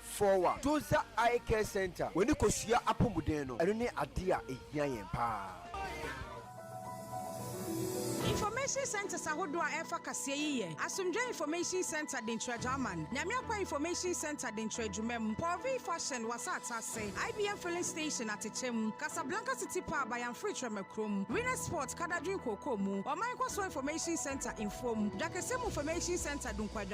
Fowa, Joza Eye Care Centre, W'ani Kosua Apomuden no, ɛno ne adeɛ a ɛhia yɛn paa. Information Centres ahodoɔ a ɛfa kaseɛ yi yɛ, Asomdwoeɛ Information Centre Denkyiragyaaman, Nyame Akwan Information Centre Denkyiragyumam, Porvir Fashion Wasatase, IBM Filling Station Atekyɛm, Casablanca City Pub Ayamfiri Trɛmakurom, Winners Sport Kadadwin Kookoomu, Ɔman Nkɔsoɔ Information Centre Mfuom, Dwakɛsɛm Information Centre Dunkwa,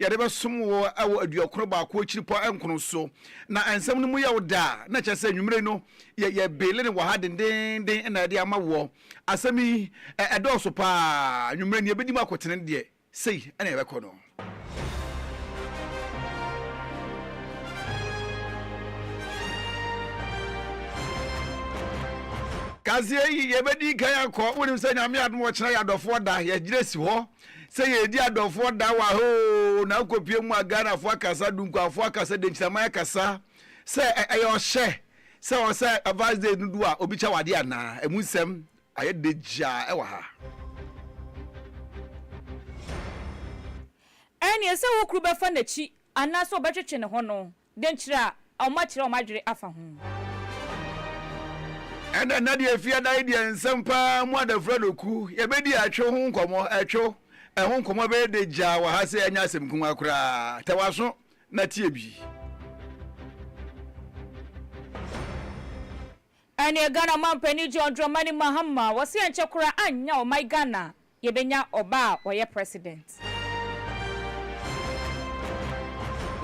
Yɛde bɛsom wo wɔ aduɔkron baako akyiri pɔ nkron so. Na nsɛm no mu yɛ wo dɛ a, na ɛkyerɛ sɛ anwummere no yɛ yɛn beele no wɔ ha dendeenden na yɛde ama woɔ. Asɛm yi, ɛ, ɛdɔɔso pa ara. Anwummere no yɛbɛdi mu akotene no deɛ, sei na yɛbɛkɔ no. Kaseɛ yi, yɛbɛdi kan akɔ. Wonim sɛ Nyame adom a ɔkyena yɛ adɔfoɔ da. Yɛgyina si hɔ. Sɛ yɛredi adɔfoɔ da wɔ ha oo, na wokɔpue mu a Ghanafoɔ akasa, Dunkuafoɔ akasa, Denkyisaman akasa, sɛ ɛyɛ ɔhyɛ sɛ ɔwɔ sɛ Advance Day no du a obi kyɛ wo adeɛ anaa? Ɛmu nsɛm ayɛ dɛ gyaa wɔ ha. Ɛnneɛ sɛ wo kuru bɛfa n'akyi anaasɛ ɔbɛtwetwe ne ho no, Dɛn nkyira a wɔakyerɛ wɔn adwene afa ho? Ɛnna nna deɛ ɛfiri adae deɛ nsɛm pa ara mu adafra no ku. Yɛbɛdi atwew ho nkɔmmɔ. Atwew, ɛho nkɔmmɔ bɛyɛ dɛ gyaa wɔ ha sɛ ɛnyɛ asɛm nkumaa koraa. Tɛ w'aso na tie bi. Ɛneɛ Ghana mampanin John Dramani Mahama, wɔse ankyɛ koraa annya ɔman Ghana Yɛbɛnya ɔba a ɔyɛ president.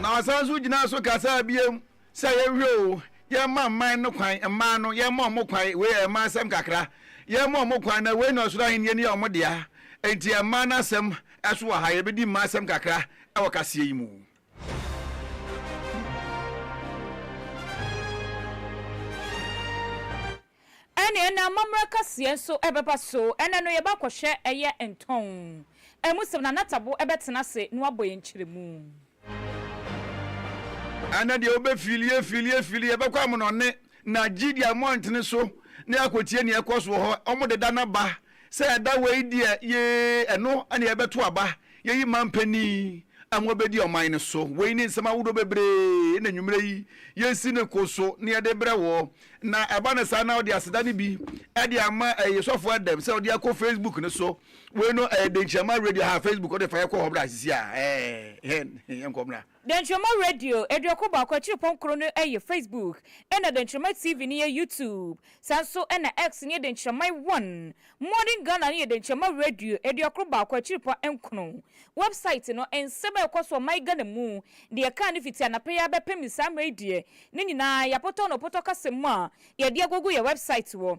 Na ɔsan nso gyinaa so kasaa biom sɛ yɛnhwɛ oo, yɛmma mman no kwan, mmaa no, yɛmma wɔn kwan, wei yɛ mmaa asɛm kakra, yɛmma wɔn kwan, na wei na ɔsoro ahennie no yɛ wɔn dea, enti mmaa no asɛm so wɔ ha, yɛbɛdi mmaa asɛm kakra wɔ kaseɛ yi mu. Ɛne ɛna amammerɛ kaseɛ nso bɛba so, ɛna no yɛba kɔhwɛ ɛyɛ ntɔn ɛmu sɛm na natabo bɛtena ase na wabɔ yɛn nkyerɛmu. Ɛna deɛ wobɛ filie filie filie yɛbɛkɔ amonɔne na gyidie a moantene so na yɛakɔtie nea ɛkɔ so wɔ hɔ, wɔde da no aba Sɛ ɛda wei deɛ yee ɛno na yɛbɛto aba yɛyi man panin a mobɛdi ɔman no so. Wei ne nsɛm ahodoɔ bebree na anwummerɛ yi yɛsi ne ko so na yɛde brɛ woɔ. Na ɛba no saa na wode aseda no bi de ama ɛyɛ Sɔfo Adam sɛ ɔde akɔ Facebook no so. Wei no ɛyɛ Denkyiama Radio ha, Facebook wode fa yɛkɔ hɔ bra sisi a ɛɛ hɛn yɛnkɔ mmra. Dɛnkyɛmma Radio aduɔkron baako akyiri pɔn koro no yɛ Facebook, ɛna Dɛnkyɛmma TV no yɛ YouTube. Saa nso na X no yɛ Dɛnkyɛmma one. Modern Ghana no yɛ Dɛnkyɛmma Radio aduɔkron baako akyiri pɔn nkron. Wɛbsaet no, nsɛm a ɛkɔ so wɔ man Ghana mu, deɛ ɛkaa no fiti anapa yi ara bɛpem saa mmerɛ yi deɛ, ne nyinaa yɛapotɔ no potɔ kasa mu a yɛde agugu yɛn wɛbsaet wɔ.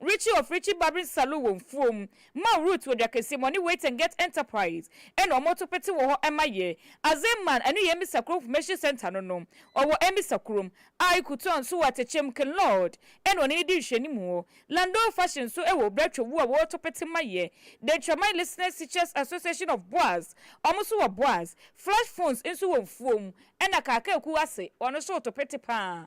Richie of Richie Barbering Saloon wɔ Mfuom, Mao Route wɔ Dwakɛseɛ mu, ɔne Wait and Get Enterprise ɛna ɔmo to pete wɔ hɔ ɛma yɛ. Azee Man ɛno yɛ Emmisa Kurom Information Centre no no, ɔwɔ Emmisa Kurom. Ae Kutuan nso wɔ Atekyɛm, Ken Lord ɛna ɔne no di nhwɛnim wɔ. Landoo Fashion nso ɛwɔ Obra Twawuo a wɔto pete ma yɛ. The Ntraman Listeners Teachers Association of Boas ɔmo nso wɔ Boas. Flash Phones nso wɔ Mfuom ɛna Kaakaakuo ase ɔno nso to pete paa.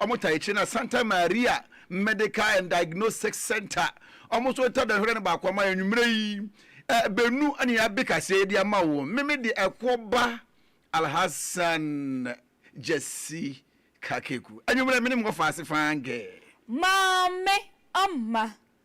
Wɔtaa akyire no Santa Maria Medical and Diagnostic Center, wɔn nso wɔtaa da hwɛrɛ no baako ama yɛn anwummerɛ yi. Ɛɛ bɛnu ne yɛn abe kaseɛ de ama wo. Me me deɛ ɛkoɔ ba Alhassan Gyasi Kakeku. Anwummerɛ me ne mo wɔ faase faa gɛɛ. Maame Amma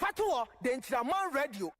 Fatoɔ de nkyira man radio.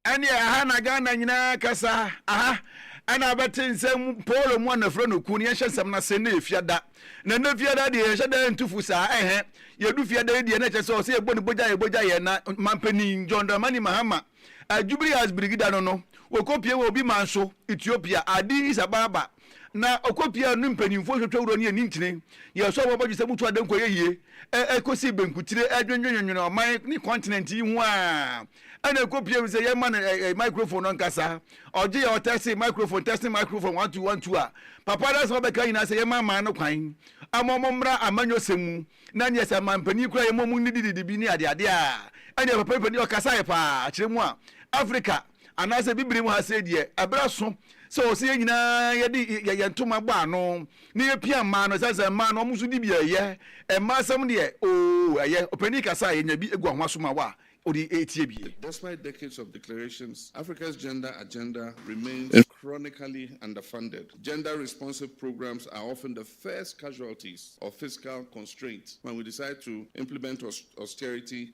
Ɛneɛ aha na Ghana nyinaa kasa aha ɛna bɛte nsɛm Paul mu a na frɛ no kun yɛnhyɛ nsɛm no ase na yɛ fiada na ɛnɛ fiada deɛ yɛhyɛ da ntu fo saa ɛhɛ yɛdu fiada yi deɛ na ɛkyɛ sɛ ɔsɛ yɛbɔ ne bogya yɛ bogya yɛ na mampanin John Dramani Mahama a Jubilee House Birigida no no wɔkɔpie wɔ obi man so Ethiopia Addis Ababa na ɔkɔ pii a ne mpanyimfo hwehwɛ wura no yɛ ne nkyene. Yɛn so abɔbɔdwesɛ mu tu adan kɔ yɛ yie, ɛkɔsi benkutire, ɛdwennwennwene ɔman ne kɔntinɛnt yi ho ara, ɛnna ɛkɔ pii awie sɛ yɛma no microphone no nkasa. Ɔgye a ɔtɛse microphone, testing microphone, one two one two a, papa no asɛm a ɔbɛka nyinaa sɛ yɛmma aman no kwan ama wɔmmra amanyɔsɛm mu, na neɛ sɛ aman panin kura yɛma wɔnnidididi bi ne adeade a, ɛnneɛ papa yi panin ɔkasaeɛ paa, kyerɛ mu a, Afrika. Anaasɛ Bibiri mu ha sei deɛ, ɛberɛ aso sɛ ɔsɛ yɛn nyinaa yɛde yɛ yɛn ntoma bɔ ano na yɛpia mmaa no, ɛsiane sɛ mmaa no wɔn nso di bi a ɛyɛ, mmaa asɛm deɛ oo ɛyɛ, ɔpanin kasa a yɛnya bi gu ahoma so ma wo a wode retie bi. Despite decades of declarations, Africa's gender agenda remains chronically underfunded. Gender-responsive programs are often the first casualties of fiscal constraints when we decide to implement austerity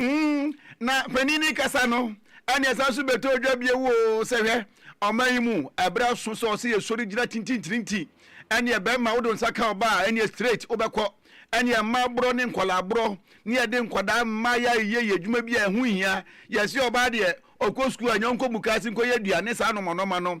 Mm, na panin no rekasa no, ɛne ɛsan so bɛtɔ dwa bio o, sɛ hwɛ, ɔman yi mu, ɛberɛ aso sɛ ɔse yɛsɔre gyina tintintirinti, ɛneɛ bɛrima wode wo nsa ka ɔbaa a, ɛneɛ straight wobɛkɔ, ɛneɛ mmaa borɔ ne nkwadaa borɔ, ne yɛde nkwadaa mma yɛ ayeyɛ yɛ adwuma bi a ɛho nhia, yɛse ɔbaa deɛ, ɔkɔ sukuu a, ɛnyɛ ɔnkɔ mukaase nkɔyɛ aduane saa nɔmɔnɔma no,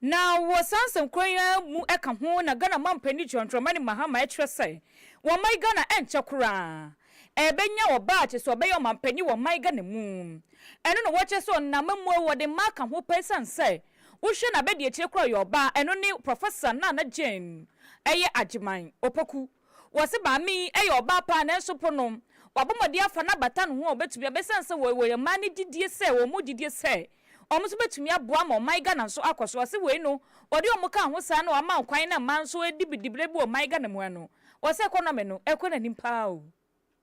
Na wɔ saa nsɛmkorɔ yi ara mu ka ho na Ghana Manpanin John Dramani Mahama kyerɛ sɛ wɔ man Ghana ɛnkyɛ koraa ɛbɛnya wɔ baakye so ɔbɛyɛ ɔmanpanin wɔ man Ghana mu. Ɛno na wɔkyerɛ sɛ ɔnam amammuo wɔde mma aka ho pɛ ɛsiane sɛ wohwɛ n'abadiakyire koraa ɔyɛ ɔbaa ɛno ne Professor Nana Jane ɛyɛ Agyeman Opoku. Wɔse maame yi yɛ ɔbaa paa nanso po no wabɔ mmɔden afa no abata ne ho a ɔbɛtumi aba ɛsiane sɛ wɔyɛ mmaa no gyidie sɛ wɔn mu gyidie sɛ wɔn nso bɛtumi aboa ma ɔman Ghana nso akɔ so. Wɔse wei no wɔde wɔn kaa ho saa na wɔama kwan na mmaa nso redi dibrɛ bi wɔ ɔman Ghana mu ano. Wɔse economy no ɛrekɔ n'anim paa o.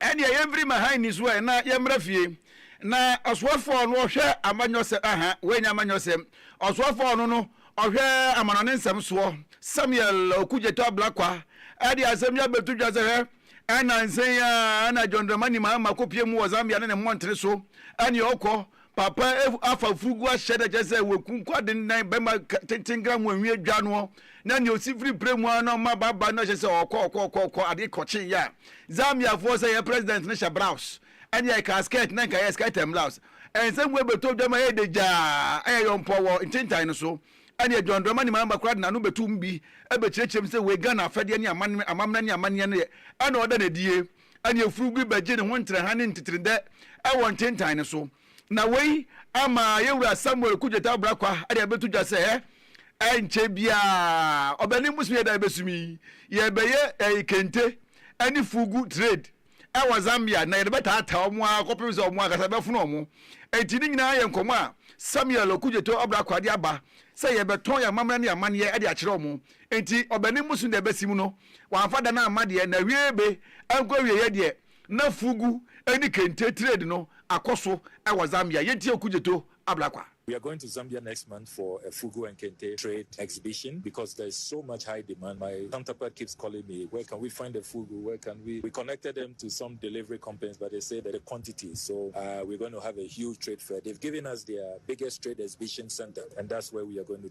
Ɛnneɛ yɛmfiri ma ha nniso ɛ, na yɛmmra fie. Na ɔsoɛfoɔ no ɔhwɛ amanyɔsɛ, aha, woanya amanyɔsɛ. Ɔsoɛfoɔ no no ɔhwɛ amanɔne nsɛm soɔ. Samuel Okudzeto Ablakwa de asɛm yi abɛto dwa sɛ, Hwɛ, ɛnansa yi ara na John Dramani Mahama kɔpue mu wɔ Zambia ne ne mmɔntene so, ɛnneɛ ɔkɔ, Papa afa afurugu ahyɛ dɛ kyerɛ sɛ waku nkwa dennan bɛma tenten gra mu anwi adwa noɔ na nea ɔsi firi prɛ mu ara na ɔma baba no hyɛ sɛ ɔkɔ ɔkɔ ɔkɔ ɔkɔ adeɛ kɔkye yɛ a Zambia foɔ sɛ yɛ president no hyɛ braus ɛne yɛ kaa skirt na nka yɛ skirt and blouse ɛnsɛ mu ɛbɛtɔ dwa ma yɛ de gyaa ɛyɛ yɔmpɔ wɔ ntentan no so ɛne yɛ John Dramani Mahama kora de n'ano bɛtu mu bi ɛbɛkyerɛkyerɛ mu sɛ wei Ghana afɛdeɛ ne amammerɛ ne amanneɛ no yɛ ɛna ɔda no adie ɛnna afurum bi bɛgye ne ho ntrɛha ne ntetredɛ wɔ ntentan no so. Na wei ama yɛn wura Samuel Kugyet Abrakwa de abɛto dwa sɛ, Ɛrenkyɛ biara ɔbɛnem bosome yɛ da a ɛbɛso mu yi, yɛrebɛyɛ eh, kente ne fugu trade wɔ Zambia, na yɛde bɛtaataa wɔn ara kɔpem sɛ wɔn ankasa bɛfono wɔn. Enti ne nyinaa yɛ nkɔmmɔ a Samuel Okudzeto Abrakwa de aba sɛ yɛbɛtɔn yɛn amammerɛ ne yɛn amanneɛ de akyerɛ wɔn. Enti ɔbanin bosom deɛ ɛbɛsi mu no, wamfa da no amma deɛ n'awieeɛ be nkɔ awieeɛ deɛ na fugu ne kente trade no akɔ so wɔ Zambia. Yɛntie Okudzeto Ablakwa. We are going to Zambia next month for a fugu and kente trade exhibition because there is so much high demand. My counterpart keeps calling me, where can we find the fugu, where can we, we connected them to some delivery companies but they say that the quantity so uh, we're going to have a huge trade fair. They've given us their biggest trade exhibition center and that's where we are going to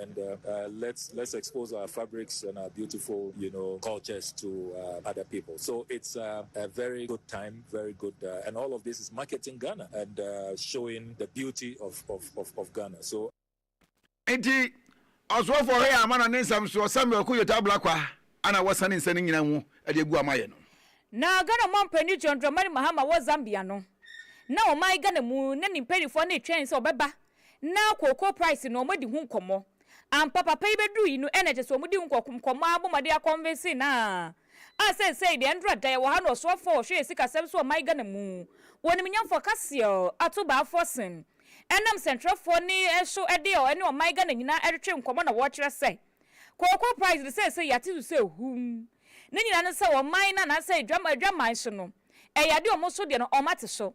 and let's let's expose our fabrics and our beautiful you know cultures to uh, other people so it's uh, a very good time very good uh, and all of this is marketing ghana and uh, showing the beauty of, of, of, of ghana so nti ɔsoɔfoɔ hɛ ama no ne nsɛm soɔ samuel ko yota blakwa ana wɔsane nsɛ no nyina mu de agu ama yɛ no na ghana mɔ mpanyin john dramani mahama wɔ zambia no na ɔman ghana mu na ne mpanimfoɔ no retwɛn sɛ ɔbɛba na kooko price no ɔmo adi ho nkɔmɔ ampa papa yi bɛduru yi no ɛna kyɛsɛ ɔmo di ho nkɔmɔ ara bɔ mmɔden akɔnvinse no aa a sɛsɛi deɛ ndura da yɛwɔ ha no ɔsoafoɔ a ɔhwɛ yɛn sikasɛm so ɔman Ghana mu wɔ nimnyamfoɔ kaseɛ ɔ ato baafoɔ sen ɛnam sɛntwerɛfoɔ ne so ɛde ɔ ɛne ɔman Ghana nyinaa ɛretwe nkɔmɔ na wɔkyerɛ sɛ kooko price no sɛsɛi yɛate so sɛ humm ne nyinaa no sɛ ɔman no anaasɛ adwaman so no ɛyɛ adeɛ ɔmo so deɛ no ɔmo ate so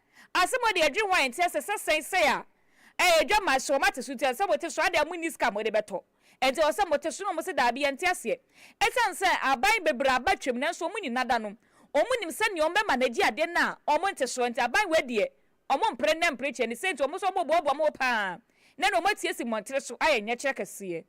Ase mode adwene ho a ɛnteɛ sɛ sɛ sɛn sɛn a ɛyɛ adwammaa hyɛ wɔn ate so nti ɛnsɛ sɛ mote so adɛn a monni sika a mode bɛtɔ ɛnti ɛwɔ sɛ mote so na wɔn se daabi yɛnte aseɛ ɛsiane sɛ aban bebree aba twam nanso wɔn nni nada no wɔn nim sɛdeɛ wɔn bɛma no agye adeɛ no a wɔn nte soɔ nti aban wei deɛ wɔn mpere nnɛ mpere kyɛ ne sɛ nti wɔn nso wɔn boaboa mo paa na na wɔn atiesie mmɔntene so ayɛ nyɛkyerɛ kɛseɛ.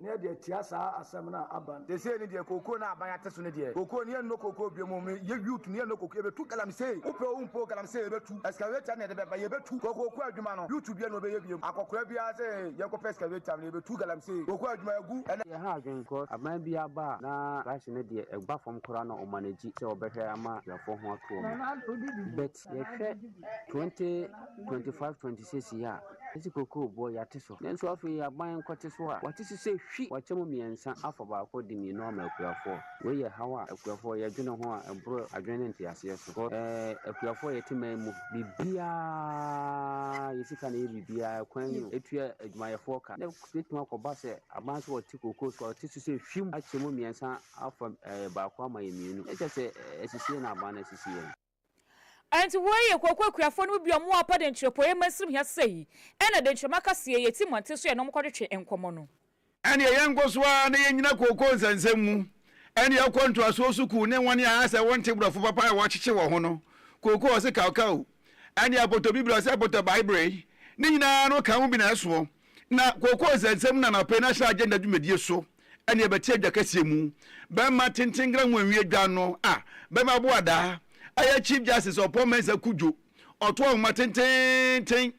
Ne yɛ deɛ tia saa asɛm no a aban. Sesei no deɛ kookoo no a aban ate so no deɛ kookoo no yɛnnɔ kookoo bio mmom no yɛ youth no yɛnnɔ kookoo yɛbɛtu galamsey wopɛ o wompɛ o galamsey yɛbɛtu excavator no na yɛde bɛba yɛbɛtu kɔ kookoo adwuma no youth biara na ɔbɛyɛ biom akɔkora biara sɛ yɛnkɔpɛ excavator no yɛbɛtu galamsey kookoo adwuma agu ɛnɛ Yɛnha adwene because aban biara ba a na trash no deɛ ɛba fam koraa na ɔmanage sɛ ɔbɛhwɛ ama akuafoɔ ho atoɔ mu but Yɛhwɛ 2025 26 yi a, yɛsi kokoo boɔ yɛate so. Nanso afei aban nkɔte so a, wɔate so sɛ hwi! Wɔakyɛ mu mmiɛnsa afa baako de mmienu ama akuafoɔ. Wei yɛ haw a akuafoɔ yɛdwene ho a ɛboro adwene ne nteaseɛ so. Kɔ ɛɛ akuafoɔ yɛte man mu. Biribiara yɛ sika na ɛyɛ biribiara. Kwan yi o, ɛtua adwumayɛfoɔ ka. Na ɛbɛtumi akɔba sɛ aban nso wɔte kokoo so a wɔte so sɛ hwim akyɛ mu mmiɛnsa afa ɛɛ baako ama yɛn mmienu. Ɛkyɛ sɛ asisie na aban no asisi yɛn. Enti woi ye kooko akuafoɔ no mu bi ɔmo apa denkyerɛ poeɛ mansirim hia sei ɛna denkyerɛ maka sie ye ti mmɔnten so yɛne ɔmo kɔtwetwe nkɔmɔ no. Ɛneɛ yɛnkɔ so ara na yɛnnyina kooko nsɛnsɛm mu ɛne ɛkɔ ntoasoɔ sukuu ne wɔn a asɛ wɔnte brɔfo papa a wɔakyekye wɔn ho no kooko ɔse kaokao ɛne apotobibire ɔse apotɔbaebere ne nyinaa no ka ho bi na ɛsoɔ na kooko nsɛnsɛm no anɔpɛ yi na hyɛ agenda dwumadie so ɛne ɛbɛte adwa kɛseɛ mu. Bɛrima tenten grahuanwi adwa no a bɛrima boadaa ɛyɛ Chief Justice Ɔpɔn Mensah Kudjo ɔto ahoma tententen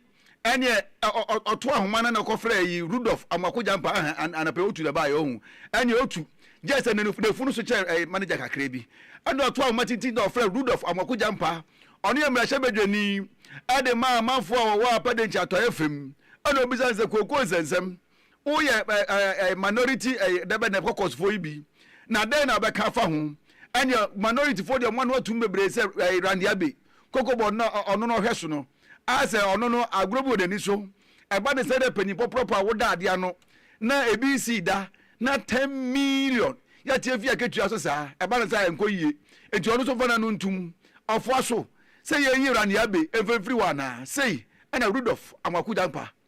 ɛneɛ ɔto ahoma no na ɔkɔfrɛɛ yi Rudolph Amoako Gyampa ahɛ anapa yi ɔtu na ɛbaeɛ ɔhu ɛneɛ ɔtu gyɛ sɛ n'afunu so kyɛ ɛyɛ manager kakra bi ɛne ɔto ahoma tenten na ɔfrɛ Rudolph Amoako Gyampa ɔno yɛ mmarahyɛ badwani ɛde maa amanfoɔ a wɔwɔ Apa Dankyi atɔeɛ fam ɛna ɔbisa no sɛ kookoo nsɛnsɛm Woyɛ ɛɛ minority ɛɛ dɛbɛ dɛbɛ kɔkɔsfoɔ yi bi na dɛn na ɔbɛka afa ho? Ɛnneɛ minority foɔ deɛ wɔn ano atum bebree sɛ ɛɛ Randy Abbey, Cocoa Board na ɔno na ɔhwɛ so no. A sɛ ɔno no agorɔ bi wɔ n'ani so. Ɛba ne sɛ dɛ panyin pɔpɔrɔpɔ a woda adeɛ ano na ebi nsii da na ten million yɛte afi akatua so saa. Ɛba ne saa a ɛnkɔ yie. Nti ɔno nso mfa n'ano nto mu. Ɔfoa so sɛ yɛnyi Randy Abbey mfa mfiri hɔ anaa? Sei na Rudolph Amoako Dankwa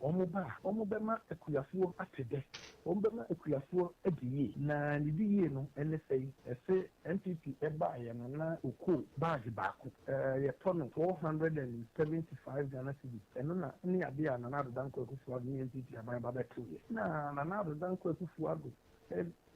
Wɔba a, wɔbɛma akuafoɔ ate dɛ, wɔbɛma akuafoɔ adi yie. Na ne di yie no ne sɛi, se NPP baeɛ no na ɔkoo bag baako, yɛtɔ no four hundred and seventy five Ghana cedis, ɛno na ne adeɛ a Nana Addo Dankwa Akufo-Addo ne NPP aban no ba bɛtoeɛ. Na Nana Addo Dankwa Akufo-Addo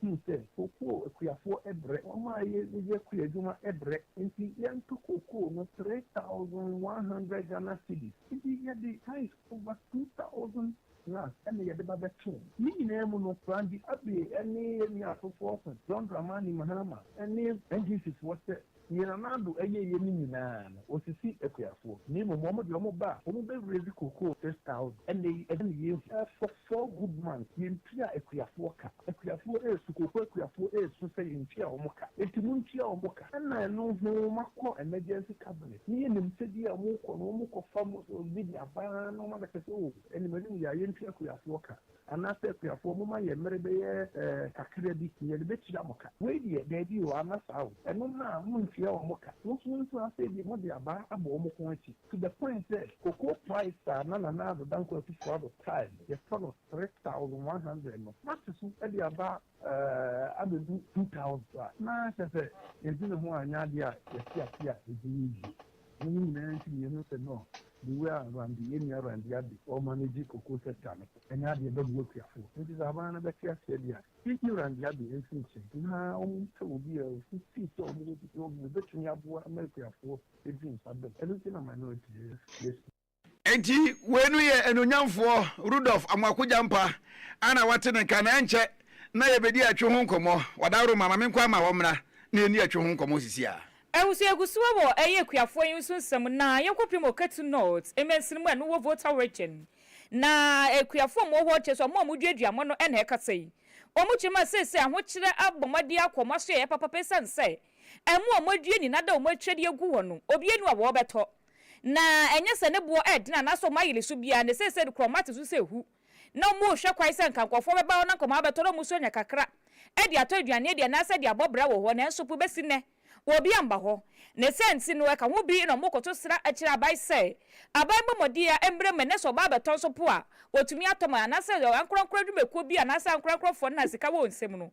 huu sɛ kookoo akuafoɔ brɛ, wɔn a yɛyɛ akuo adwuma brɛ, nti yɛntɔ kookoo no three thousand one hundred Ghana cedis, nti yɛde ties Over two thousand Rands ɛna yɛde ba bɛtoo. Ne nyinaa mu no, Randy Abbey ne yɛn nua afoforɔ so, John Dramani Mahama ne NGC foɔ sɛ, Deɛ Nana Addo ayɛeɛ no nyinaa no, ɔsisi akuafoɔ. Na mmom wɔn deɛ wɔn ba a, wɔn bɛ raise cocoa six thousand. Ɛnnɛ yi, ɛdeɛn na yɛhu? Ɛfɔ. Saul Goodman, Yɛntua akuafoɔ ka. Akuafoɔ resu, kooko akuafoɔ resu sɛ yɛntua wɔn ka. Enti montua wɔn ka. Ɛna ɛno ho makɔ emergency cabinet. Ne yɛnim sɛdeɛ a wɔkɔ no, wɔkɔfa mu sɛ obi de aba na wɔn abɛka sɛ oh, ɛne m'anim yɛ a yɛntua akuafoɔ ka. Anaasɛ akuafoɔ momma yɛn mmere bɛyɛ eh, kakra bi na yɛde bɛtua mo ka. Wei deɛ, daabi o, anna saa o. Ɛno ho a, monntua wɔn ka. Mo nso montra ase, ebia mode aba abɔ wɔn kɔn akyi. To the point sɛ cocoa price a na Nana Addo Dankwa Akufo-Addo tae yɛtɔ no three thousand one hundred no, wɔate so de aba abedu two thousand a, na kyerɛ sɛ yɛdwe ne ho a ɛnyɛ adeɛ a yɛte ase a yɛgye no die. Ɛno ne nyinaa nti na yɛhu sɛ no, the way a Randy, yɛn nua Randy Addo, ɔremanage cocoa sector no, ɛnyɛ adeɛ a ɛbɛboa akuafoɔ. Enti sɛ aban no bɛte aseɛ deɛ a, yɛnyi Randy Addo mfiri nkyɛn na wɔmpɛ obi a ɔfiri sɛ wɔbɛtumi aboa ama akuafoɔ. Edi nsa dom. Ɛno nti na minority yɛ yɛ. Enti wei no yɛ anuonyamfoɔ Rudolf Amoako Gyampa a na wate ne nka na ɛnkyɛ na yɛbɛdi atwe ho nkɔmmɔ. Wadaworo ma ma menkɔ ama wɔmmra na yɛnni atwe ho nkɔmmɔ sisi a. Ahosoagu so wɔ ɛyɛ akuafoɔ yi nso nsɛm na yɛkɔpem Okatu North mansini mu a ɛno wɔ Volta Region. Na akuafoɔ a wɔwɔ hɔ kyerɛ sɛ wɔn a wɔduadua wɔn no na ɛkasa yi. Wɔkyerɛ mu a seesei ahokyerɛ abɔ mmɔden akɔ wɔn asoɛeɛ papapa ɛsiane sɛ Ɛmo a wɔadua nyinaa da wɔn akyire de agu hɔ no, obiara nni hɔ a wɔbɛtɔ. Na ɛnyɛ sɛ ne boɔ reden anaasɛ wɔn ayere so biara, na seesei no koraa wɔate so sɛ ahu. Ná wɔrehwɛ kwan sɛ anka nkurɔfoɔ bɛba hɔ na nkɔmmɔ abɛtɔ na wɔn nso anya kakra de atɔ aduane adi anaasɛ de abɔ bra wɔ hɔ, nanso po bɛsi nnɛ obi amma hɔ. Ne saa nti no, ɛka ho bi na wɔkɔto sra kyerɛ aban sɛ aban mmɔ mmɔden a ɛmmrɛ mu ɛnnɛ sɛ wɔba abɛtɔ nso po a wɔtumi atɔ ma anaasɛ ankorankoro adwumakuo bi anaasɛ ankorankorɔfoɔ no a sika wɔ wɔn nsam no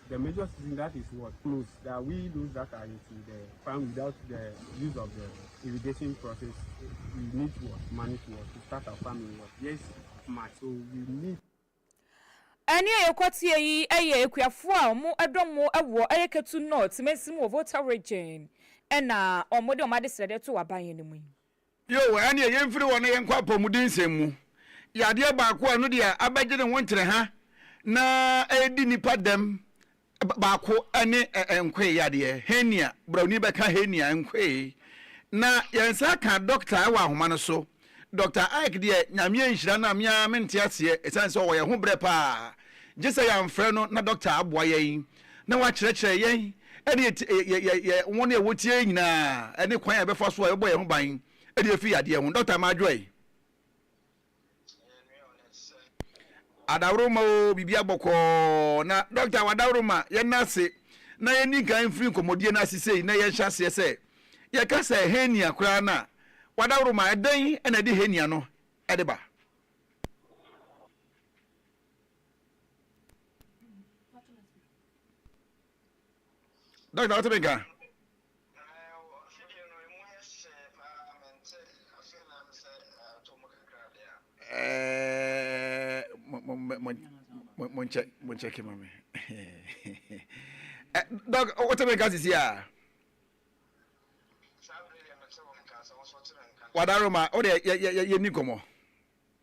The major season that is what close that we those that are into the farm without the use of the irrigation process we need to what money to what to start our farming what yes much so we need. Ɛne a yɛkɔ teɛ yi yɛ akuafoɔ a ɔmo ɛdɔm mo ɛwɔ ɛyɛ Ketu North mansin mu wɔ Volta Region ɛna ɔmo de ɔmo adesrɛdeɛ to aban yɛ no mu yi. Bio, ɛnneɛ yɛmfiri hɔ na yɛnkɔ apɔmudensɛm mu. Yadeɛ baako a ɛno deɛ abɛgye ne ho nkyerɛ ha na ɛredi nnipa dɛm baako ne nkoe yadeɛ, hernia. Borɔni bɛka hernia, nkoe. Na yɛn nsa aka dɔkta wɔ ahoma no so. Dɔkta Ike deɛ, Nyame anhyira no a me ara mente aseɛ, ɛsiane sɛ ɔwɔ yɛn ho berɛ pa ara. Gye sɛ yɛamfrɛ no na dɔkta aboa yɛn. na wɔakyerɛkyerɛ yɛn ne yɛn wɔn a wɔtie yɛn nyinaa ne kwan a yɛbɛfa so a yɛbɛbɔ yɛn ho ban de afi yadeɛ ho. Dɔkta Maa Joy. Adaworoma o, biribi abɔkɔɔ na dɔkta w'adaworoma yɛn ase na yɛn nkan mfiri nkɔmmɔdie no ase sei na yɛnhyɛ aseɛ sɛ yɛka sɛ hernia koraa no a w'adaworoma ɛdɛn na ɛde hernia no ɛde ba? dɔkta wotumi ka monkyɛke ma me dɔk wotumi ka sisi a wadaroma wode yɛni nkɔmmɔ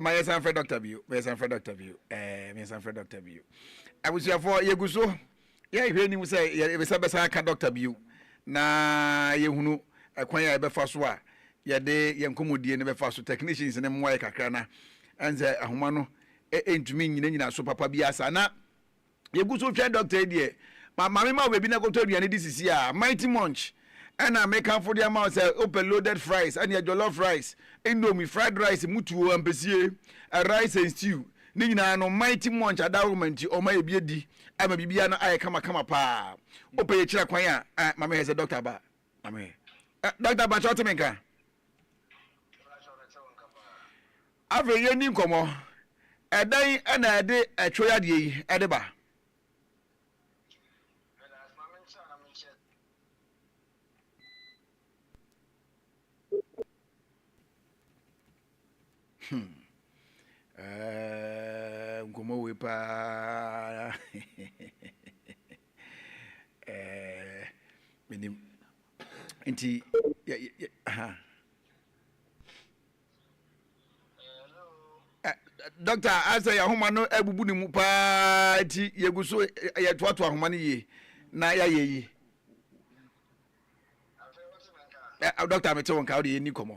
ma yɛ san fɛ dɔkta bio ma yɛ san fɛ dɔkta bio ɛɛ ma yɛ san fɛ dɔkta bio abusuafo yɛ gu so yɛ hwɛ nim sɛ yɛ bɛ san bɛ san aka dɔkta bio na yɛ hunu ɛkwan a yɛ bɛ fa so a yɛ de yɛ nkɔmɔdie ne bɛ fa so technicians ne mmoa yɛ kakra na ɛn sɛ ahoma no ɛntumi nyina nyina so papa bi asa na yɛgu so hwɛ dɔkta yi deɛ, ma ma mema wo baabi na kɔtɔ aduane di sisi a, Mighty Munch ɛna mekamfo de ama wo sɛ wopɛ loaded fries ɛneɛ jollof rice, indomie, fried rice, mutuo, ampesie, rice and stew, ne nyinaa no Mighty Munch adawoma nti ɔma yɛ bi adi ama biribiara no ayɛ kama kama paa. Wopɛ yɛkyira kwan a, eh, ma mehwɛ sɛ dɔkta aba, ma mehwɛ, eh, dɔkta mpakyɛ wote me nka? Afei yɛnni nkɔmmɔ. Ɛdɛn na ɛde ɛtwe yadeɛ yi de ba? Hmm. Eh, nkɔmmɔ wei paa. eh, menim. nti yɛ yɛ ha dɔkta asɛ yɛ ahoma no abubu ne mu paa nti yɛgu so yɛtoatoa ahoma no yie na yɛayɛ yi dɔkta mete wo nka wode yɛni kɔmmɔ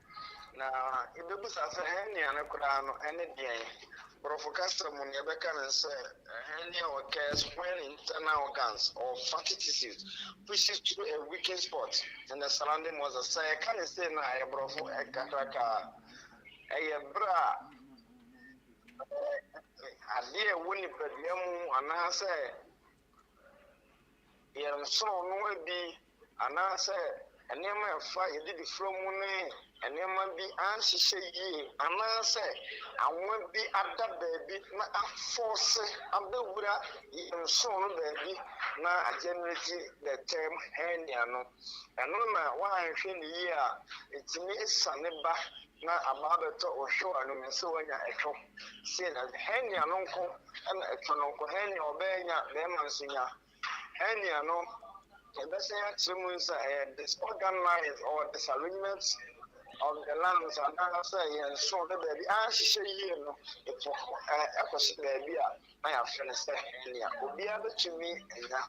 Na ibebisa sɛ, 'Hɛn nua no koraa no, ɛne deɛn? Borɔfo kasa mu no, yɛbɛka no sɛ, Hɛn nua occurs when internal organs or fatty tissues pushes through a weakened spot in the surrounding muscles. Sɛ yɛka no sei no a, ɛyɛ Borɔfo kakraka. Ɛyɛ berɛ a adeɛ a ɛwɔ nipadua mu anaasɛ. yɛn nsono no bi anaasɛ nneɛma a ɛfa yɛn adidifrɛ mu ne nneɛma bi anhyehyɛ yie anaasɛ anwa bi ada baabi na afɔɔse abɛwura yɛn nsono no baabi na agyɛnerɛgye the term hernia no, ɛno na woanhwɛ no yie a ɛtumi siane ba Na ama abɛtɔ wo hwew ano mu sɛ woanya ɛtwo, sei na ɛsɛ, hɛn nua no nko na ɛtwo no nko, hɛn nua ɔbɛyɛ nya, bɛrima nso nya, hɛn nua no yɛbɛhyɛ yɛn akyerɛ mu nsa, ɛyɛ disorganized or disarrangement of the lungs anaasɛ yɛn nsow no baabi anhyehyɛ yie no, ɛpo ɛkɔhyɛ baabi a. na yɛafrɛ no sɛ hernia. Obiara betumi anya,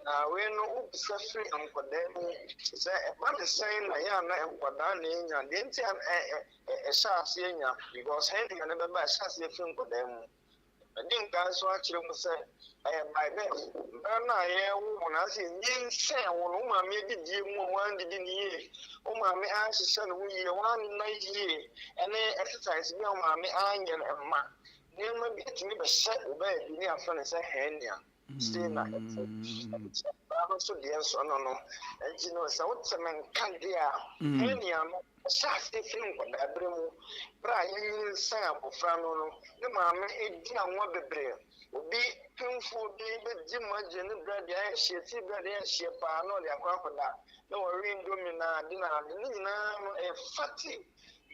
na wei no wobisa firi nkwadaa mu sɛ ɛba ne sɛn na yɛ a na nkwadaa na enya, deɛ nti a na ɛhyɛ aseɛ nya because hernia no bɛba ɛhyɛ aseɛ firi nkwadaa mu. Madi nkan nso akyerɛ mu sɛ ɛyɛ by birth, mmerɛ no a yɛrewo wo no anaasɛ yɛnyinsɛn wo no, wo maame adidie mu a woandidi no yie, wo maame anhyehyɛ ne ho yie, woanna yie, ɛne exercise bi a wo maame anyɛ no mma Nneɛma bi tumi bɛhyɛ wo baabi ne yɛafrɛ no sɛ hernia sei na ɛte baa no nso deɛ nso no no nti no sɛ wote me nka deɛ a mm. hernia no ɛhyɛ ase firi nkwadaa berɛ mu berɛ a yɛnyini nsan abɔfra no no ne maame ɛdi anwa bebree obi pemfoɔ bi bɛdi magye ne berɛ deɛ ayɛ hyeɛ ti berɛ deɛ ayɛ hyeɛ paa na ɔde akɔ akɔda na wɔwe ndomi na ade na ade ne nyinaa no ɛyɛ fati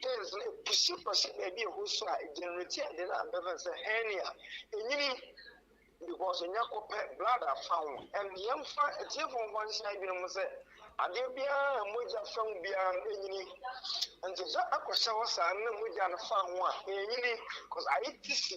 Dens no epusi kɔ hyɛ baabi a ɛhɔ su a egenereti ade no a bɛfrɛ no sɛ hernia, enyini, because enya kɔ pɛ blood afa ho. And yɛmfa atiefo mfa nhyɛ adwene mu sɛ adeɛ biara a mogya fa mu biara no enyini. Nti sɛ akɔhyɛ hɔ saa na mogya no fa ho a enyini, because ayɛ tisi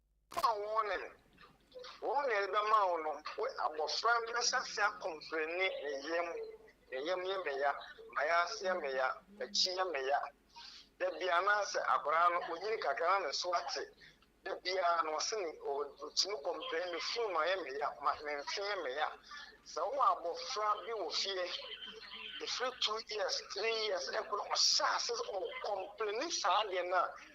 Ama wɔne no. Wɔn na yɛde bɛma wo no. Wo abɔfra no bɛhyɛ aseɛ akɔmprɛni, Me yam, me yam yɛ me ya, m'ayaase yɛ me ya, m'akyi yɛ me ya, da biara. Anaasɛ akwadaa no, ɔnyini kakra na ne so ate. Da biara no, ɔse ne, ɔtumi kɔmprɛni, Me funum ayɛ me ya, ma, me mfe yɛ me ya. Sɛ wowɔ abɔfra bi wɔ fie, ɛfiri two years, three years, ɛkɔ no, ɔhyɛ aseɛ sɛ ɔkɔmprɛni saa adeɛ no a,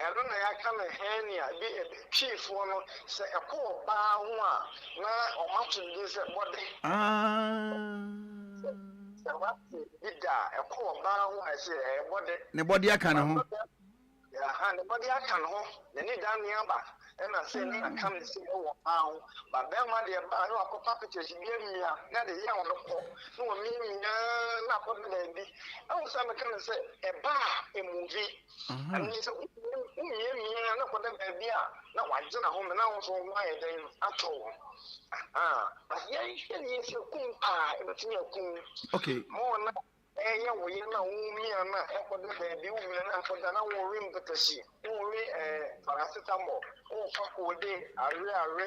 Ɛno na yɛaka no hernia bi Twifoɔ no sɛ ɛkɔ ɔbaa ho a na wɔn ato no din sɛ bɔde. Aah. Sɛ wate bi da a ɛkɔ ɔbaa ho a ɛsɛ ɛyɛ bɔde. Ne bɔde aka ne ho. Aha ne bɔde aka ne ho na ni da ne aba ɛna sɛ ne aka ne sɛ ɛwɔ ɔbaa ho ba bɛrima deɛ baa ne wakɔ papikyɛs bi amia na de yɛ wɔn kɔ ne wɔn mia mia na akɔ bɛbɛɛbi ɛwɔ sɛ meka ne sɛ ɛbaa emuvi. Ɛno ne sɛ womiamia na kɔda baabi a na wagye n'ahome na wo nso wo ho ayɛ dɛn atɔ wo. But yɛnhwɛ ne yɛ sɛ kum paa ɛbɛtumi akum ma ɔna ɛyɛ wo yɛ na womia na ɛkɔda baabi womia na akɔda na wɔwe mpɛtɛhye wɔwe paracetamol wofa koode awe awe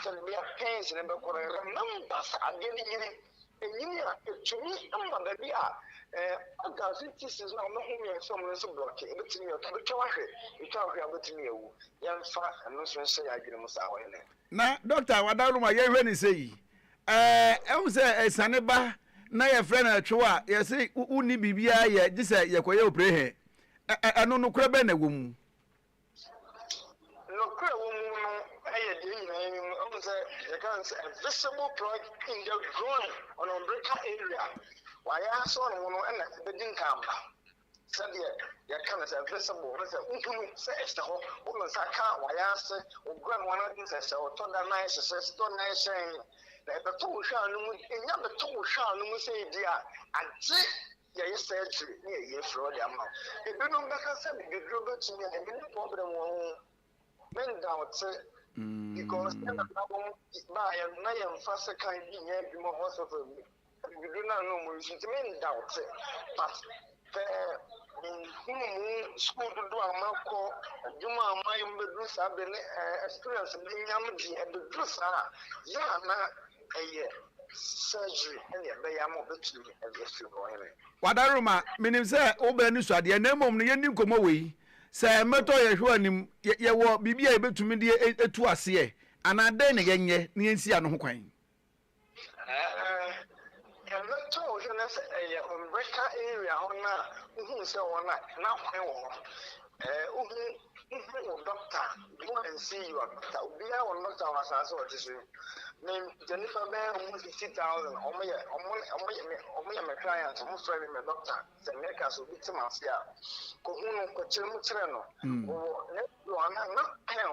sɛde bia pains ne bɛkɔ no ɛnam ba sɛ adeɛ no yiri Ɛnyini a, ɛtumi ma baabi a organs ne tissues no a wɔhome yɛn nsam no nso blɔke, ɛbɛtumi yɛ, wobɛtwa wo ahwɛ, wotwa wo hwɛ a wobɛtumi awu. Yɛmfa ɛno nso nhyɛ yɛn adwene mu saa, ɔhene. Na dɔkta wadaworo ma yɛnhwɛ no sei, ɛɛ, ɛhu sɛ asiane ba na yɛfrɛ no ɛtwe wo a, yɛse wonni biribiara yɛ gye sɛ yɛkɔyɛ oprehe, ɛno nokorɛ bɛn na ɛwɔ mu? Nokorɛ wɔ mu no yɛ deɛ nyinaa yi mu, wohu sɛ yɛka no sɛ a visible plug in the groin, ɔno umbilical area, wayɛ asɔ ne ho no na ɛbɛdi nkanba, sɛdeɛ yɛka no sɛ visible, wohu sɛ wohunu sɛ ɛhyɛ hɔ, wo nsa ka wayɛ ase, wo groin ho no sɛ sɛ ɔtɔ da na ayɛ hyɛ sɛ sitɔ na ayɛ hyɛn, na ɛbɛtɔ wo hwɛ a no mu, ɛnya bɛtɔ wo hwɛ a no mu sɛ ebi a agye Yɛayɛ surgery na yɛayi afiri hɔ de ama wo. Ebinom bɛka sɛ bibiduro bɛtumi a ɛno ne problem wɔn ho. Me ndawte because yɛn nana nom baeɛ no na yɛmfa sekan bi nyɛ adwuma hospital bi. Bibiduro no a na wɔyi nti me ndawte but pɛ menhunu mu school dodoɔ a makɔ, adwuma a mayɛ mu bɛduru saa berɛ ne experience manya no deɛ ɛbɛduru saa a yɛ a na Ɛyɛ surgery ɛne ɛbɛyɛ ama ɔbɛtumi ɛde afiri hɔ hene. Wadaroma, menim sɛ wobɛ anisoadeɛ na mmom no yɛnni nkɔmmɔ wei. Sɛ mmɛtɔ yɛn hwɛ anim, yɛ, yɛwɔ biribi a yɛbɛtumi de a, atu aseɛ, anaa dɛn na yɛnyɛ na yɛnsi ano ho kwan? Ɛɛ, Ɛbɛtɔ wo hwɛ na sɛ ɛyɛ Mbrika area hɔ no a wohun sɛ ɔwɔ no a, na hwan wɔ hɔ? Ɛɛ wohu wohu wo dɔkta, go and see your doctor, obiara wɔ ne dɔkta wɔ asaase a ɔte so yi. Me gya nnipa bɛyɛ ɔmo fifty thousand, ɔmo yɛ ɔmo ɔmo yɛ me ɔmo yɛ me client, ɔmo frɛ me me dɔkta. Sɛ mereka sɛ obi te m'ase a, kɔ hu no, kɔ kyerɛ mu kyerɛ no, ɔwɔ ne na na pɛn a ɔbɛ.